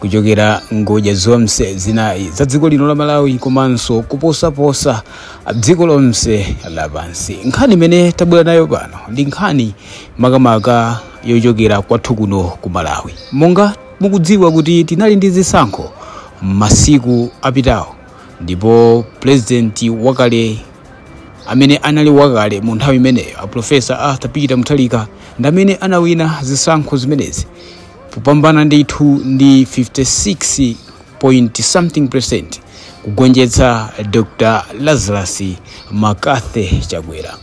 kuchokera ngodya zonse zinayi za dziko lino la malawi komanso kuposaposa dziko lonse lapansi nkhani imene tabwera nayo pano ndi nkhani makamaka yochokera kwathu kuno ku malawi monga mukudziwa kuti tinali ndi zisankho masiku apitawo ndipo pulezidenti wakale amene anali wakale mu nthawi imeneyo a profesa arthur peter mutharika ndi amene anawina zisankho zimenezi kupambana ndithu ndi 56 point something percent kugonjetsa dr lazarus mccarthy chakwera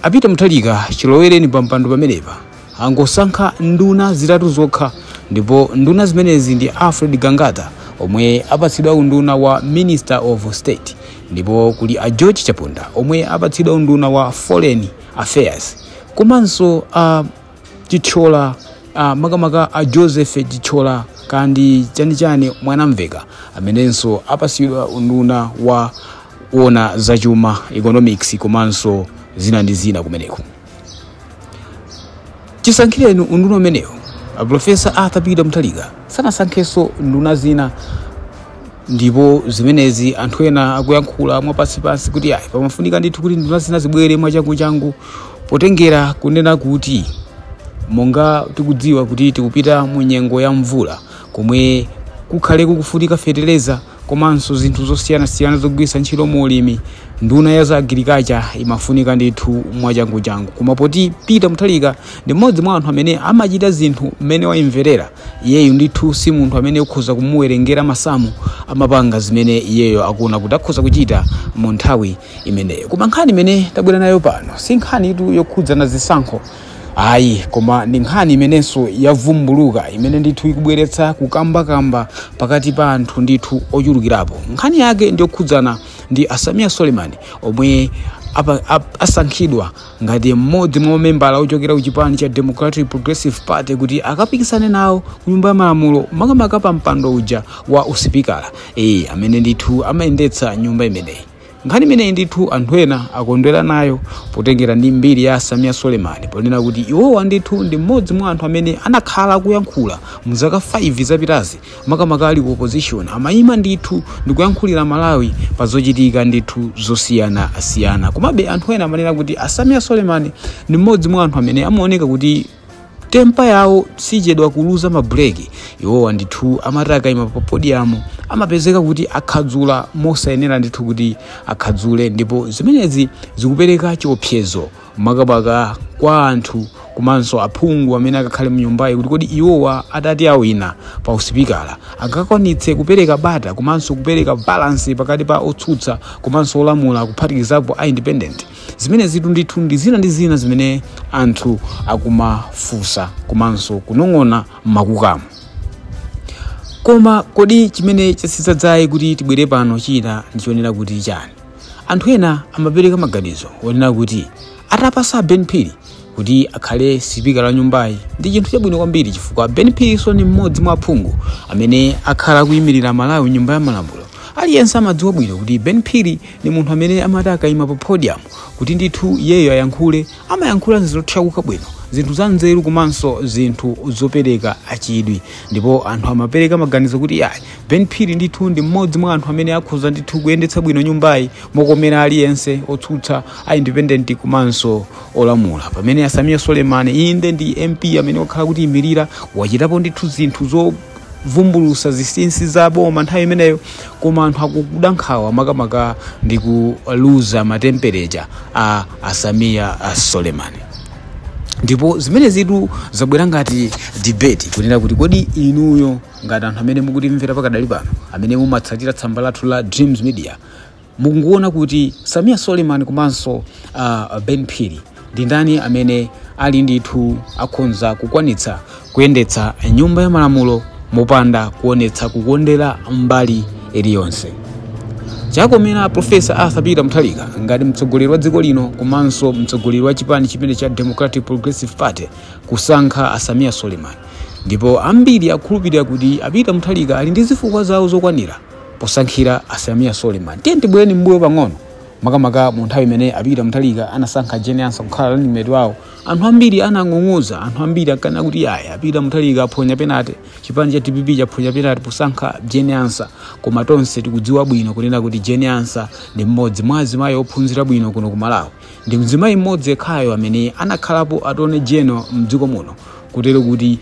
a peter mutharika chilowereni pampando pamenepa angosankha nduna zitatu zokha ndipo nduna zimenezi ndi alfred gangata omwe apatsidwa unduna wa minister of state ndipo kuli a george chaponda omwe apatsidwa unduna wa foreign affairs komanso a uh, chitchola uh, makamaka a joseph chitchola kandi chanichani mwanamveka amenenso apatsidwa unduna woona zachuma economics komanso zina ndi zina kumeneko chisankhireni unduna umenewu aprofesa arthur peter mutharika sanasankhenso nduna zina ndipo zimenezi anthu ena akuyankhula mwapansipansi kuti ayi pamafunika ndithu kuti nduna zina zibwere mwachanguchangu potengera kunena kuti monga tikudziwa kuti tikupita mu nyengo ya mvula komwe kukhale kukufunika fetereza komanso zinthu zosiyanasiyana zogwiritsa ntchito mu ulimi nduna ya za agirikacha imafunika ndithu mwachanguchangu koma poti peter mutharika ndi mmodzi mwa anthu amene amachita zinthu mmene wayimverera iyeyo ndithu si munthu amene ukhoza kumuwerengera masamu amapanga zimene iyeyo akuona kuti akhoza kuchita mu nthawi imeneyo koma nkhani imene tabwera nayo pano si nkhanitu yokhudzana zisankho ayi koma ndi nkhani imenenso yavumbuluka imene ndithu ikubweretsa kukambakamba pakati pa anthu ndithu ochulukirapo nkhani yake ndiyokhudzana ndi a sameer suleman omwe asankhidwa ngati mmodzi mwa mamembala ochokera ku chipani cha democratic progressive party kuti akapikisane nawo ku nyumba ya malamulo makamaka pa mpando uja wa usipikala e, amene ndithu amayendetsa nyumba imeneyi nkhani imeneyi ndithu anthu ena akondwera nayo potengera ndi mbiri ya sameer suleman ponena kuti iwowa ndithu ndi mmodzi mwa anthu amene anakhala kuyankhula mu zaka 5 zapitazi makamaka ali ku opposition amayima ndithu ndikuyankhulira malawi pa zochitika ndithu zosiyanasiyana komabe anthu ena amanena kuti a sameer suleman ndi mmodzi mwa anthu amene amaoneka kuti tempa yawo sichedwa kuluza mabuleki iwowa ndithu amati akayima pa podiyamu amapezeka kuti akhadzula mosayenera ndithu kuti akhadzule ndipo zimenezi zikupereka chiopsezo makamaka kwa anthu komanso aphungu amene akakhale mnyumbayi kuti kodi iwowa atati awina pa usipikala angakwanitse kupereka bata komanso kupereka balansi pakati pa otsutsa komanso olamula kuphatikizapo a independent zimene zitu ndithu ndi zina ndi zina zimene anthu akumafunsa komanso kunong'ona m'makukamo koma kodi chimene chatsitsa dzaye kuti tibwere pano china ndichonera kuti chani anthu ena amapereka maganizo onena kuti atapasa ben phiri kuti akhale sipika wa nyumbayi ndi chinthu chabwino kwambiri chifukwa ben phirinso ni mmodzi mwa aphungu amene akhala akuyimirira malawi mnyumba ya malamulo aliyense amadziwa bwino kuti ben phiri ni munthu amene amati akayima pa podium kuti ndithu iyeyo ayankhule amayankhula zothyakuka bwino zinthu za nzeru komanso zinthu zopereka achidwi ndipo anthu amapereka maganizo kuti ayi Ben Phiri ndithu ndi mmodzi mwa anthu amene akhoza ndithu kuyendetsa bwino nyumbayi mokomera aliyense otsutsa a independent komanso olamula pamene a Samia Suleiman inde ndi MP amene wakhala kutiimirira wachitapo ndithu zinthu zovumbulutsa zisinsi za boma nthawi imeneyo koma anthu akuda nkhawa makamaka ndi kuluza ma temper kwa a Samia Suleiman ndipo zimenezitu zabwera ngati debate kunena kuti kodi inuyo ngati anthu amene mukutimvera pakadali pano amene mumatsatira tsamba lathu la dreams media mukuona kuti samia suleiman komanso uh, ben phiri ndi ndani amene ali ndithu akhonza kukwanitsa kuyendetsa nyumba ya malamulo mopanda kuonetsa kukondera mbali iliyonse chakomera profesa arthur peter mutharika ngati mtsogoleri wa dziko lino komanso mtsogoleri wa chipani chimene cha democratic progressive party kusankha a samia suleiman ndipo ambiri akukhulupirira kuti a Peter Mutharika ali ndi zifukwa zawo zokwanira posankhira a Samia Suleiman. Tiyeni tibwerere m'mbuyo pang'ono makamaka mu nthawi imene a Peter Mutharika anasankha Jane Ansah kukhala running mate wawo. Anthu ambiri anang'ung'udza, anthu ambiri ankanena kuti yaya a Peter Mutharika aphonya penalty, chipani cha dpp chaphonya penalty posankha Jane Ansah. Koma tonse tikudziwa bwino kunena kuti Jane Ansah ndi mmodzi mwa azimayi ophunzira bwino kuno ku Malawi. Ndi mzimayi mmodzi yekhayo amene anakhalapo attorney general mdziko muno kutero kuti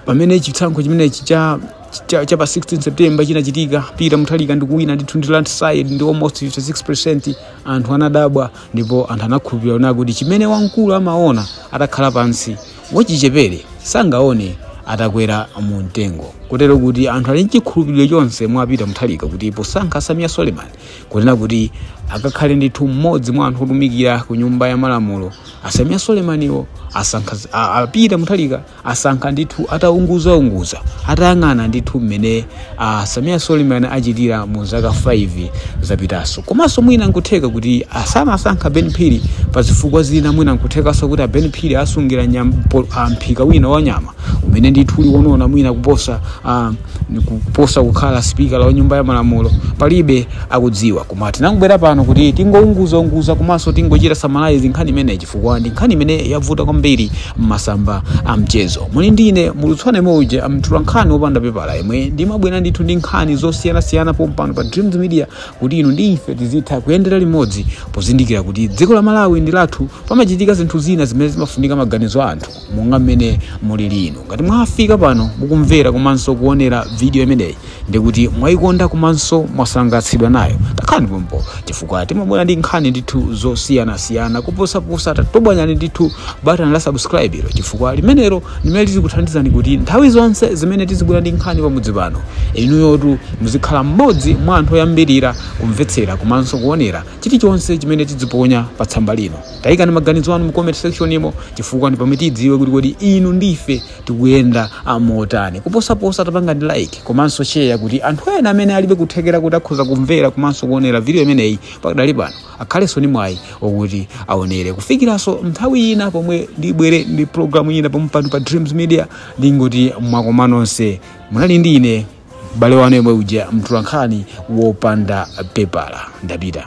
pamene chisankho chimenechi cha cha, cha pa 16 september chinachitika peter mutharika ndikuwina ndithu ndi landslide ndi almost 56% anthu anadabwa ndipo anthu anakhulupirira kuti chimene wamkulu amaona atakhala pansi wachichepere sangaone atakwera mu mtengo kutero kuti anthu ali nchikhulupiriro chonse mwa peter mutharika kuti posankha samia suleiman kunena kuti akakhale ndithu mmodzi mwa anthu otumikira ku nyumba ya malamulo a Samia Sulemaniwo asankha a- Peter Mutharika asankha ndithu ataunguzaunguza atayang'ana ndithu mmene a Samia Sulemani achitira mu zaka 5 zapitazo komanso mwina nkutheka kuti sanasankhe ben phiri pa zifukwa zina mwina nkuthekanso kuti a ben phiri asungira nyam- po- a mphika wina wa nyama umene ndithu uli wonona mwina kuposa uh, kuposa kukhala sipikala wa nyumba ya malamulo palibe akudziwa koma tinangobwera pano kuti tingounguzaunguza komanso tingochita summarize nkhani imeneyi chifukwa ndi nkhani imene yavuta kwambiri m'masamba a mchezo muli ndi ine mulutswane mouje mtulankhani wopanda pepala yemwe ndimabwera ndithu ndi nkhani zosiyanasiyana pompano pa dreams media kuti inu ndi ife tizitha kuyendera limodzi pozindikira kuti dziko la malawi ndi lathu pamachitika zinthu zina zimene zimafunika maganizo a anthu monga mmene mulili inu. Ngati mwafika pano mukumvera komanso kuonera video imeneyi ndiye kuti mwaikonda komanso mwasangalatsidwa nayo. Takhalani pompo chifukwa timabwera ndi nkhani ndithu zosiyanasiyana kuposaposa. Tatobwanyani ndithu batani la subscribe ilo chifukwa limenelo limene lizikuthandizani kuti nthawi zonse zimene tizibwera ndi nkhani pamudzi pano, inuyotu muzikhala mmodzi mwa anthu oyambirira kumvetsera komanso kuonera chilichonse chimene tiziponya pa tsamba lino. Taikani maganizo anu mu comment section imo chifukwa ndi pamene tidziwe kuti kodi inu ndife tikuyenda amotani. Kuposaposa tapangani like komanso share kuti anthu ena amene alibe kuthekera kuti akhoza kumvera komanso kuonera video imeneyi pakadali pano akhalenso ni mwayi okuti aonere. Kufikiranso nthawi ina pomwe ndibwere ndi program ina pomwe pano pa Dreams Media ndingoti mwakoma nonse munali ndi ine m'bale wanu yemwe uja mtulankhani wopanda pepala ndapita.